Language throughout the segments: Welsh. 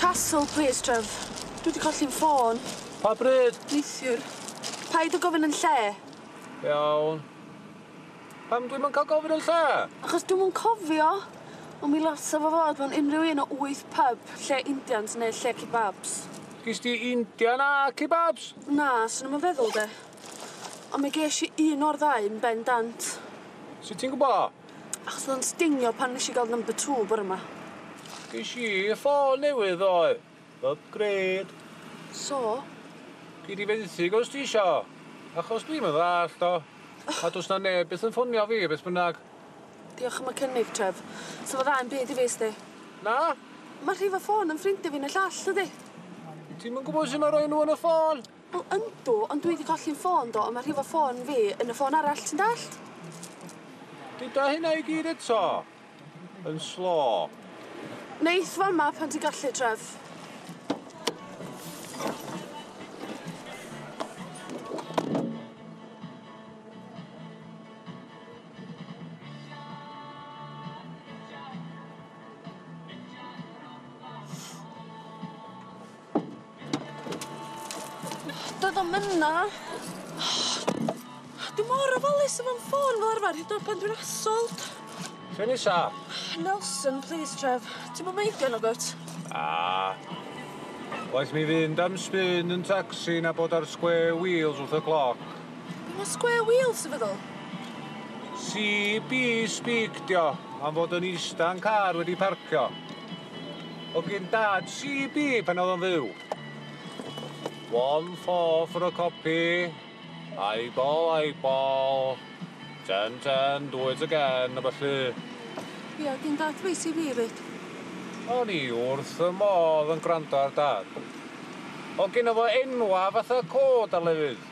Castle plîs Trev. Dwi 'di colli'n ffôn. Pa bryd? Neithiwr. Paid â gofyn yn lle. Iawn. Pam dwi'm yn cael gofyn yn lle? Achos dwi'm yn cofio. Ond mi lasa fo fod mewn unrhyw un o wyth pyb, lle Indians neu lle kebabs. Gis di Indian a kebabs? Na, swn i'm yn feddwl de. Ond mi gesh i un o'r ddau yn ben dant. Sut ti'n gwbo? Achos odd o'n stingio pan nesh i ga'l number two bore ma. Ges i ffôn newydd ddoe. Upgrade. So? Gei di fenthyg os ti isio. Achos dwi'm yn ddallt o. A do's na neb byth yn ffonio fi beth bynnag. Diolch am y cynnig, Trev. Sa fo dda 'im byd i fi sti. Na? Ma' rhif y ffôn yn ffrindia fi yn y llall dydi? Ti'm yn gwbo su' ma' roi nw yn y ffôn? Wel yndw ond dwi 'di colli 'yn ffôn do a ma' rhifo ffôn fi yn y ffôn arall ti'n dallt? Gyda hynna i gyd eto? Yn slo. Neith fama pan ti'n gallu Trev. Doedd o'm yna. Dwi mor ofalus efo'm ffôn fel arfar hyd yn o'd pan dwi'n assauled. Lle nesa? Nelson plîs Trev. Ti'm yn meindio nagwt? Na. Waeth mi fynd am spin yn tacsi na bod ar square wheels wrth y cloc. Be' ma' square wheels yn feddwl? CB speak 'di o am fod yn ista'n car wedi parcio. Hogyn dad CB pan oedd o'n fyw. One four for a copy. Eyeball, eyeball. Ten, ten, do it again, a felly. Ie, oedd yn dad fi CB, reit. O'n i wrth y modd yn gwrando ar dad. Oedd gen fo enwa fatha cod ar lefydd.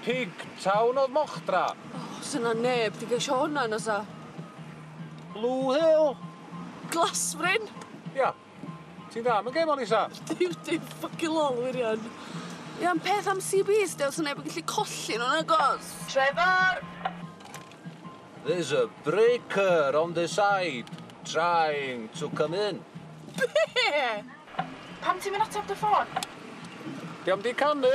Pig Town oedd Mochdra. Oh, sy'n na neb di gesio hwnna, na sa? Blue Hill? Glasfryn! Ia. Ti'n dda am y gêm o'n isa? Dim dim ffycin lol wir iawn. Ie ond peth am CBs de fyswn neb yn gallu colli nhw nagos? Trevor! There's a breaker on the side trying to come in. Be? Pam ti'm yn ateb dy ffôn? Dio'm di canu!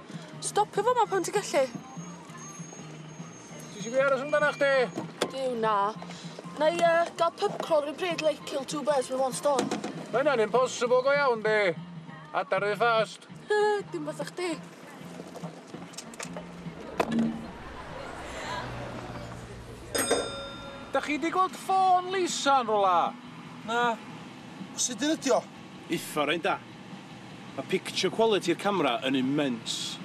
Stopio fo ma pan ti'n gallu. Ti eisiau fi aros amdana chdi? Duw na. Na i uh, gael pub crawl rhyw bryd like kill two birds with one stone. Mae hynna'n impossible go iawn di. Adar rhy fast. Dim fatha chdi. Da chi di gweld ffôn Lisa yn rola? Na. Sut dyn ydi o? Iffar ein da. Mae picture quality 'r camera yn immense.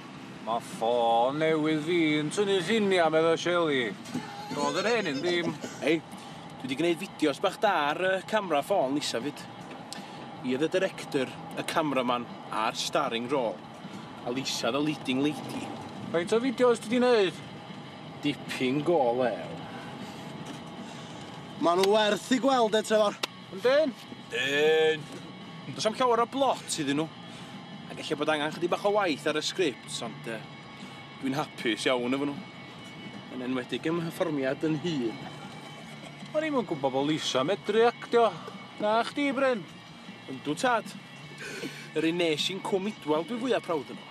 Mae ffôn newydd fi yn tynnu lluniau, meddai Shelley. Doedd yr hen un ddim. Hei, dwi wedi gwneud fideos bach da ar y camera ffôn nesaf 'fyd. Fi oedd y director, y cameraman a'r starring role, a Lisa the leading lady. Faint o fideos ti 'di wneud? Dipyn go lew. Maen nhw werth eu gweld de, Trefor. Yn dyn? Dyn. Does am llawer o blot iddyn nhw. Ac eich bod angen chydig bach o waith ar y sgript, ond uh, dwi'n hapus iawn efo nhw. Yn enwedig ym hyfforddiad yn hun. O'n i'n gwybod bod Lisa medru actio. Na chdi, Bryn? Yndw tad. Yr un nes i'n cwm idwal dwi fwyaf prawd yno.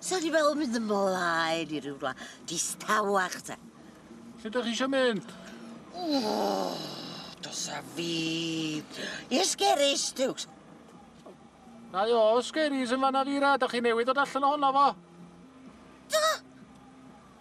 Sa di fel mynd ymlaen i ryw wlad distawach te. Lle da chi eisiau mynd? Oh, dos a fi. I'r sgeris, Dukes. Na o, sgeris yn fanna fi ra, da chi newydd dod allan o hwnna fo. Da!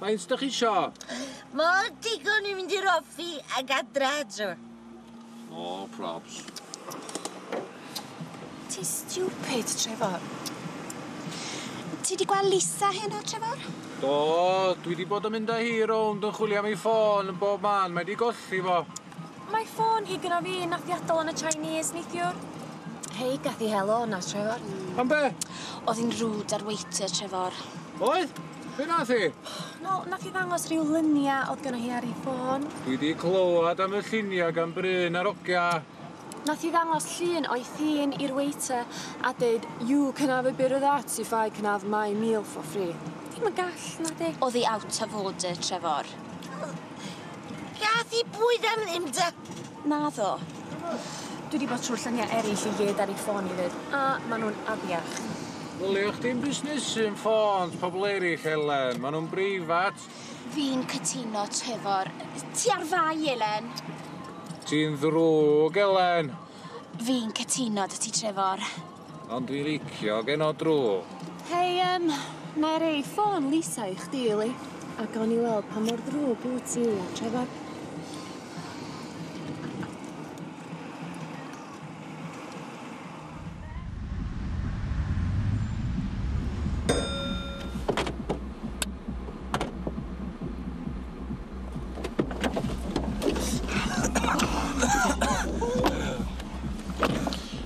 Faint dych chi isio? Mor digon i mynd i'r offi ag adre hedro. No probs. Ti stupid, Trevor. Ti di gweld Lisa heno, Trevor? Do, dwi di bod yn mynd â hi rownd yn chwilio am ei ffôn yn bob man, mae di golli fo. Mae ffôn hi gynna fi yn naffiadol yn y Chinese neithiwr. Hei gath i helo yna Trefor. Am be? O'dd i'n rude ar waiter Trefor. Oedd? Be' nath i? Wel nath i ddangos ryw lunia o'dd gynno hi ar i ffôn. Dwi di clywad am y llunia gan Bryn a'r ogia. Nath i ddangos llun o'i thîn i'r waiter a deud you can have a bit of that if I can have my meal for free. Ti'm yn gall nadi? O'dd i out of order Trefor. Gath i bwyd am ddim da. Naddo. Dwi di bod trwy llynia erill i gyd ar i ffôn i fyd, a ma nhw'n afiach. Ddylia chdi'm busnesu'n ffôns pobl erill, Elen. Ma nhw'n breifat. Fi'n cytuno, Trefor. Ti ar fai, Elen. Ti'n ddrwg, Elen. Fi'n cytuno da ti, Trefor. Ond dwi licio geno drwg. Hei yym, na'i rei ffôn Lisa i chdi yli, a gawn ni weld pa mor ddrwg wt ti a Trefor.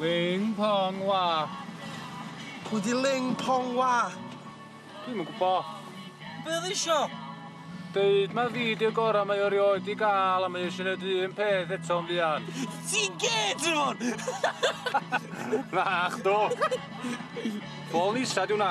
Ling Pong Wa. Pwy di Ling Pong Wa? Dwi'm yn gwbo. Be oedd isio? Deud mae fideo gorau mae o rioed di gael a mae eisiau gwneud un peth eto yn fuan. Ti'n gyd yn hwn! Na'ch do! Bol nisa di hwnna.